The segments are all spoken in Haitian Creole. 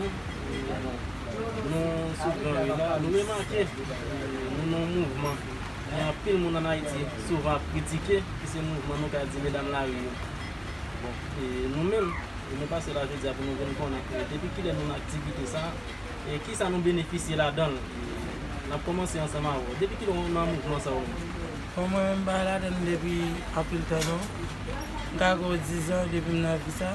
Nou sou gran ri la, nou remake nou nan yon mouvman gen anpil moun an Ayiti souvan ap kritike ki se mouvman nou ka di medam lari yo. Bon, e nou menm? E nou pase la jodi a pou nou vin konnen depi kilè nou nan aktivite sa e kisa nou benefisye ladan l? N ap kòmanse ansanm avè w. Depi kilè ou nan mouvman sa ou menm? Bon, mwen menm m pa ladan l depi anpil tan non. M ka gen yon dizan depi m nan vi sa.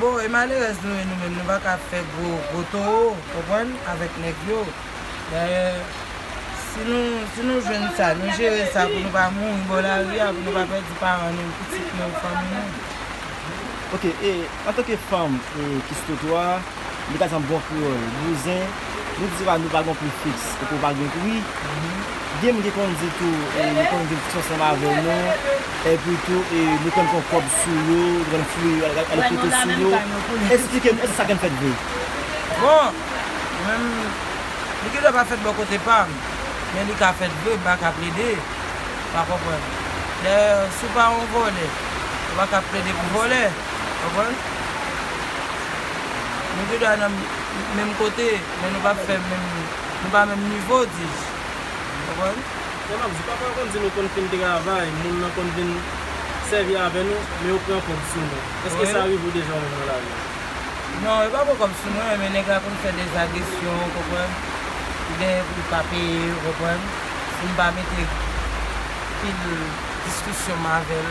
Bon e malerèz nou ye nou menm nou pa ka ap fè gwo gwo towo konprann avèk nèg yo dayè si nou si nou jwenn sa nou jere sa pou nou pa mouri bò lari a pou nou pa pèdi paran nou pitit nou fanmi nou. Ok e antanke fanm e ki sou twotwa a. Li ka san bon kreyòl. Bouzen, Nou di se pa nou pa gon pri fiks, epi ou pa gen pri. Gen moun ki konn di tou yo konn vin fix ansanm avè nou, epi tou nou konn pran kòb sou yo, nou konn fouye yo, ale fouye sou yo. Esplike nou, èske sa konn fèt vre? Bon, mwen menm, li gendwa pa fèt bò kote pa m, men li ka fèt vre, m pa ka plede pa konprann. Dayè, si w pa yon vòlè, ou pa ka plede pou vòlè, konprann? Nou gendwa nan menm kote, men nou pa fè menm, nou pa menm nivo, dis-je. Ou konprann? Sa m ap di, pafwa yo konn di nou konn fin travay, moun nan konn vin sèvi avè nou, men yo pran kòb sou nou. Èske sa rive ou deja ou menm nan lavi ou? Non, yo pa pran kòb sou mwen, men nèg la konn fè dèz agresyon, ou konprann, pou genyen pou l ka peye, ou konprann, si m pa mete pil diskisyon m avè l.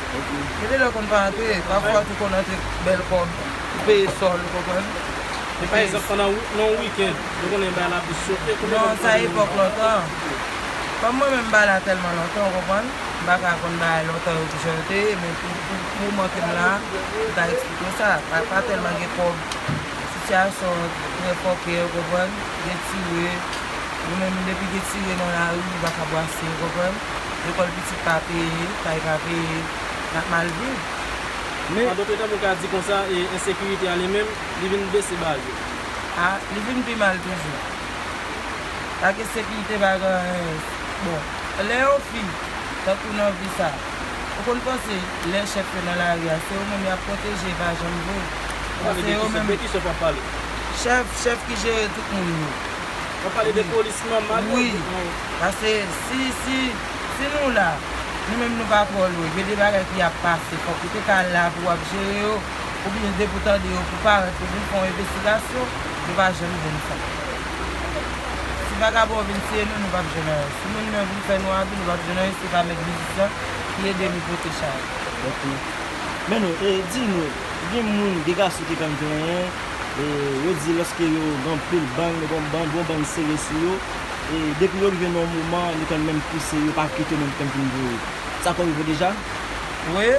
Gen de lè konn pa antre, pafwa tou konn antre bèl kòb pou peye sò l ou konprann. Men pa egzanp pandan yon weekend nou konnen bay la plis chofe konbyen moun k mande moun bay la. Non sa epòk lontan. Kòm mwen menm m bay la tèlman lontan ou konprann, m pa ka konn bay lontan yo kijan yo te ye men pou moman ke m la a m ka eksplike w sa. Pa tèlman gen kòb, sitiyasyon trè fòkè ou konprann, gen tire, nou menm depi gen tire nan lari nou pa ka brase ou konprann. Lekòl pitit pa peye, kay pa peye, n ap mal viv. Men. An dòt tèm ou ka di konsa, e ensekirite a li menm, li vin bese ba yo. A, li vin pi mal toujou. Pa gen sekirite, pa gen anyen. Bon, lè yon fi, tankou nan vi sa, ou konn panse lè chèf yo nan lari a, se yo menm y ap pwoteje, e pa janm vre. W ap pale de ki chèf? De ki chèf w ap pale? Chèf, chèf ki jere tout moun yo. W ap pale de polis nòmal yo? Wi. Pase si si si nou la nou menm nou pa twò lwen gen de bagay ki ap pase fòk ou te ka la pou wap jere yo oubyen depi w tande yo pou w parèt pou w vin fè yon envestigasyon yo pa janm jwenn sa si vagabon yo vin tiye nou nou pap jwenn anyen si moun yo vin fè nou abi nou pap jwenn anyen si pa mèt biznis lan ki ede nou pote chay. Ok men nou e di nou gen moun gen gason ki konn plenyen e yo di lòske yo gen anpil bann yo gen yon bann bon bann sere sou yo. E depi yo rive nan yon moman nou konn menm pouse yo pa kite menm tann pou nou voye. Sa konn rive deja? Wi.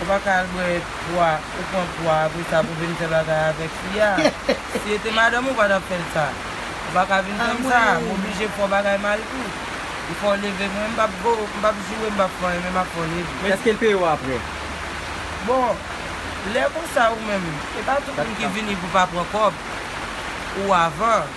Ou pa ka al bwè pwa, ou pran pwa apre sa pou vin fè bagay avèk li a. Si li te madanm ou pa tap fè l sa. Ou pa ka vin fè m sa, m oblije fè w bagay mal tou. M fè w leve mwen, m pap bo, m pap joure, m pap fè anyen men m ap fè w leve. Men èske l peye w apre? Bon, lè konsa ou menm, e pa tout moun ki vini pou pa pran kòb ou avan.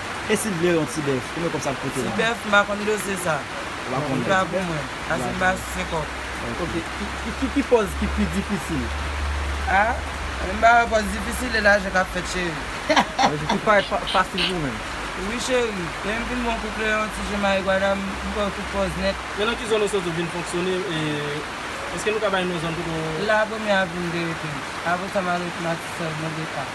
E sil vle yon ti bèf konbyen kob sa ap koute la. Ti bèf m pa konn dosye sa. Ou pa konnen. Li pa pou mwen. Asid bas se kòk. Ok ki ki pòz ki pi difisil. A Mwen m pa wè pòz difisil e lajan kap fèt cheri. Sa vle di tout bagay fasil pou ou menm. Wi cheri. Lèm fin bon kou kleyon ti je mayi gwada m fè w tout pòz nèt. E nan ki zòn ou soti ou vin fonksyone e eske nou ka bay non zòn kote ou. La premye avni m te rete. Apresa m al rete matisèl mwen deka.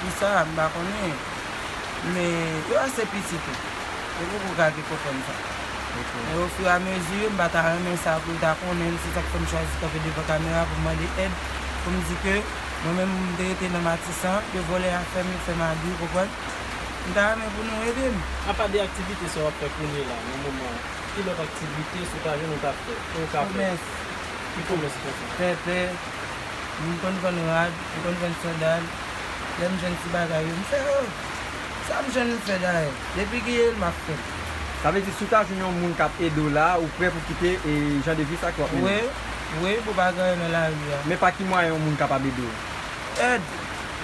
Kisa? M pa konnen. Men, yo ase piti tou. Yo poko gade kò kòn sa. Men ofiramezi, m pa ta renmen sa pou yo ta konnen l. Se sa k fè m chwazi kanpe devan kamera pou m mande èd, pou m di ke mwen menm m te rete nan Matisan, yo vòlè afè m, yo fè m abi, ou konprann. M ta renmen pou nou ede m. Apa de aktivite sa w ap fè kounye la, nan moman an, ki lòt aktivite sou paj ou nou ka fè, ke ou ka fè? Komès. Ki komès ou ka fè? Pèpè. M konn vann rad, m konn vann sandal, lè m jwenn ti bagay yo m fè yo. Sa m jwenn m fè dayè, depi gen yo m ap fè l. Sa vle di si w ta jwenn yon moun k ap ede w la ou prè pou kite jan de vi sa ke w ap mennen an? Wi, wi pou pa gaye nan lari a. Men pa ki mwayen yon moun kapab ede w? Èd.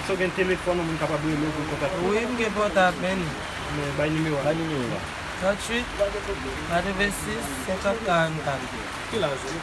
Èske w gen telefòn yon moun kapab rele w pou l kontakte w? Wi m gen pòtab men. Men bay nimewo a. Bay nimewo a. 38 86 50 44. Ki laj ou?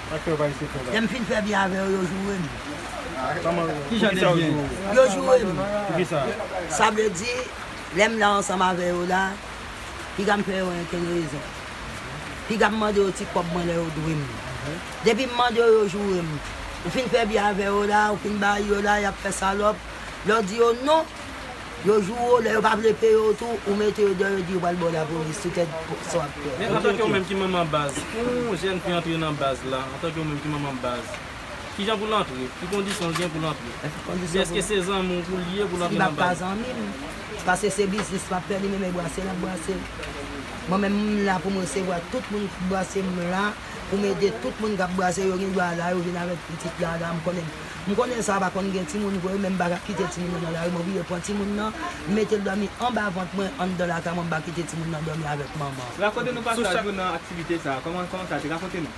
Aktè bay sekrè la. Lèm fin fè byen avèw yo jourem. Kijan de byen? Yo jourem. Poukisa? Sa vle di lèm la ansanm avè yo la pigam fè yo entenerezon. Pigam mande yo ti kòb mwen lè yo dwem. Depim mande yo yo jourem. Ou fin fè byen avè yo la ou fin bay yo la yap fè salòp. Lèw di yo non Yo joure w lè yo pa vle peye w tou ou mete yo deyò yo di yo pral ba w lapolis tout èd sa w ap pè. Men antanke ou menm ki manman baz pou yon jèn fi antre nan baz la antanke ou menm ki manman baz kijan pou l antre ki kondisyon l gen pou l antre èske se zanmi w pou l ye pou l antre nan baz. Li pa zanmi m paske se biznis m ap fè li menm e brase l ap brase l mwen menm m la pou m resevwa tout moun ki brase m la pou m ede tout moun k ap brase yo gen dwa la yo vin avèk pitit la la m konnen. M konnen sa pa konn gen timoun vre men m pa ka kite timoun nan nan lari m oblije pran timoun nan m mete l dòmi anba vant mwen anndan lakay mwen m pa kite timoun nan dòmi avèk manman. Rakonte nou pasaj ou nan aktivite sa a kòman kòman sa te rakonte nou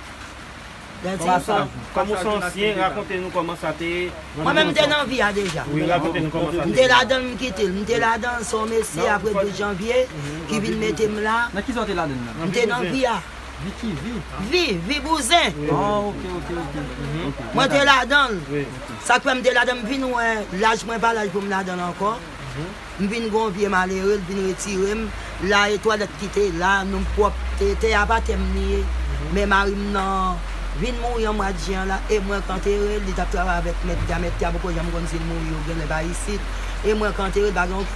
pasaj ou kòm ou se yon ansyen rakonte nou kòman sa te Mwen menm m te nan vi a deja wi rakonte nou kòman sa te m te ladan l m kite l m te ladan l se yon mesye aprè 12 janvye ki vin mete m la nan ki sa w te ladan l nan m te nan vi a. Vikivi? Vi bouzen! Mwen te ladan l. Sa k fè m te ladan l, m vin wè laj mwen pa laj pou m ladan l ankò. M vin gen yon vye malere, l vin retire m. La e twalèt ki te la, nou m pwòp. Tè a pa tè m li ye. Men mari m nan vin mouri an mwa jen an la e mwen k antere l. Li t ap travay avèk mèt tè a. Mèt tè a poko janm konn si l mouri yo genlè pa isit. E mwen k antere l pa gen yon.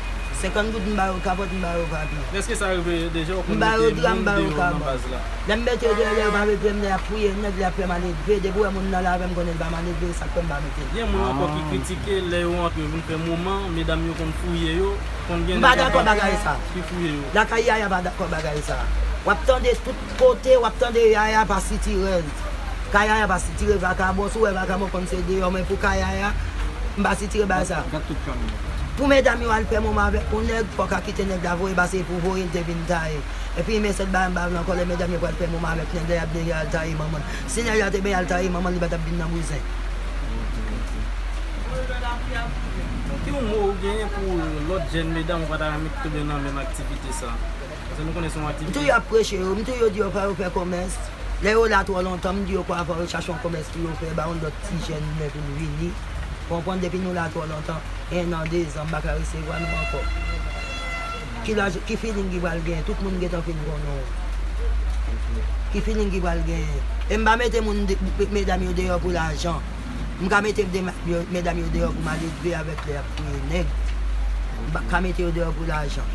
50 goud m ba yo kapòt m ba yo papye. Eske sa rive deja ou konn mete moun deyò nan baz la? Lè m mete yo deyò lè yo pa mete m lè y ap fouye nèg lè y ap fè maledve depi w wè moun nan la avè m konnen l pa maledve sa k fè m pa mete l. Gen moun ankò ki kritike lè yo antre vin fè moman medam yo konn fouye yo konn gen nèg ankò ki fouye yo. M pa dakò bagay sa. Lakay Yaya m pa dakò bagay sa. W ap tande tout. Kote wap tande yaya pa sitirel ka yaya pa sitire vakabon sou wè vakabon konn se deyò men pou ka yaya m pa sitire bagay sa pou medam yo al fè moman avèk yon nèg fòk a kite nèg la voye pase epou voyel te vin taye epi men sèt bagay m pa vle ankò lè medam yo pral fè moman avèk nèg la yap deja al taye manmanl si nèg la te benyen al taye manmanl li pa tap vin nan bouzen. Paske nou konnen se yon aktivite. M tou y ap preche yo, m tou yo di yo fò yo fè komès. Lè yo la twò lontan, m di yo kwa fò yo chache yon komès pou yo fè, ba yon lòt ti jèn imen pou l vini. Ou konprann, depi nou la twò lontan, ennan, dezan, m pa ka resevwa nou ankò. Ki laj, ki filing ki pral genyen? Tout moun gentan fin konnen w. Ki filing ki pral genyen? E m pa mete moun, medam yo deyò pou lajan. M ka mete medam yo deyò pou m ale dwe avèk lè ap touye nèg. M pa ka mete yo deyò pou lajan.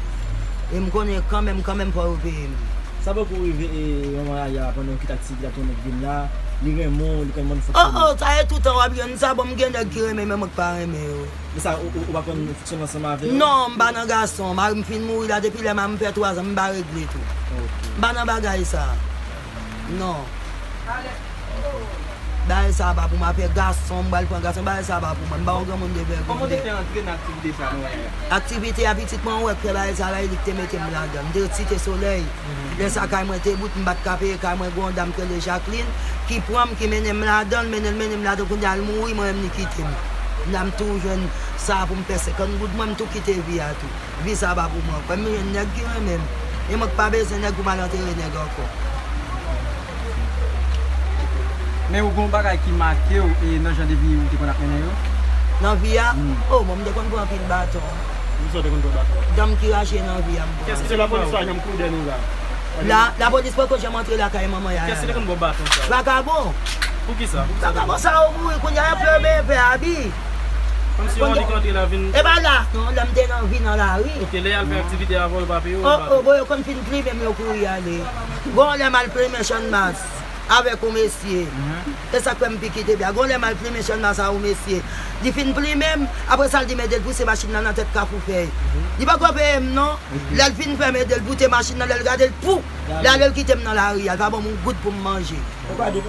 E m konnen kanmenm kanmenm fò yo peye m. Sa poko rive manman Yaya pandan ou kit ak Sibi ap tann nèg vin la. Li renmen w, li konn mann fonksyone. Oh oh, sa e toutan w ap jwenn sa. Bon m gen nèg ki renmen men mwen k pa renmen yo. Men sa ou pa konn fonksyone ansanm avè yo? Non, m pa nan gason. Mari m fin mouri la depi lè mari m fè twazan m pa regle tou. M pa nan bagay sa. Non Bagay sa pa pou mwen afè gason m pral pran gason bagay sa pa pou mwen m pa yon granmoun de vègèn Kòman w te fè antre nan aktivite sa nou wè a la? Aktivite a pitit mwen ou wè k fè bagay sa la e li k te mete m ladan l m te ret Site Solèy lè sa kay mwen te bout m pat ka peye kay mwen gen yon dam ki rele Jaklin ki pran m ki mennen m ladan l mennen l mennen m ladan l kounye a l mouri mwen menm li kite m la m tou jwenn sa pou m fè 50 goud mwen m tou kite vi a tou. Vi sa pa pou mwen ankò. M jwenn nèg ki renmen m. E mwen ki pa bezwen nèg pou m al antere nèg ankò. Men ou gen yon bagay ki make w e nan jan de vi ou te konn ap mennen yo? Nan vi a? O mwen m te konn pran anpil baton. Pou kisa w te konn pran baton? Dan m ki rache nan vi a m pran. Eske lapolis pa janm koude nou la? La? Lapolis poko janm antre lakay manman Yaya la. Kiyès ki te konn ba w baton sa yo? Vakabon! Pou kisa? Pou kisa te konn? Vakabon sa yo mouri. Kounye a y ap fè yo benyen pè Abi. Kondisyon li kontre la vin. E pa las non, lè m te nan vi nan lari. Ok, lè y al fè aktivite avan yo pa peye w. O o, bon yo konn fin plimen m yo kouri ale. Gon lè m al plimen channmas avèk yon mesye, e sa k fè m pi kite bya. Gon lè m al plimen channmas a yon mesye, li fin plimen m, apre sa l di m ede l pouse machin nan nan tèt kafou fèy. Li poko peye m non, lè l fin fè m ede l poute machin nan, lè l gade l pou, li ale l kite m nan lari a, li pa ban m yon goud pou m manje. Ou pa gen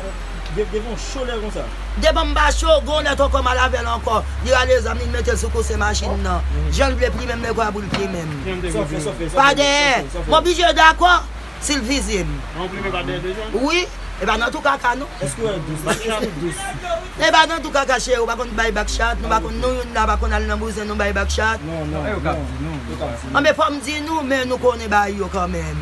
gen gen yon cho lè konsa. Devan m pa cho, gen yon lè tonton m al avè l ankò, li rale zam li li mete l sou kouse machin nan. Jan l vle plimen m lè kwa pou l plimen m. Sòflè sòflè. Pa dèyè. M oblije dakò si l fizye m. An ou plimen pa dèyè deja? Wi. E pa nan tou kaka non. Èske w al dous? Èske w dous? E pa nan tou kaka cheri ou pa konn bay bak chat, nou pa konn nou youn la pa konn al nan bouzen nou bay bak chat. Non non non. Yo kab di nou. Anben fò m di nou men nou konnen bay yo kanmenm.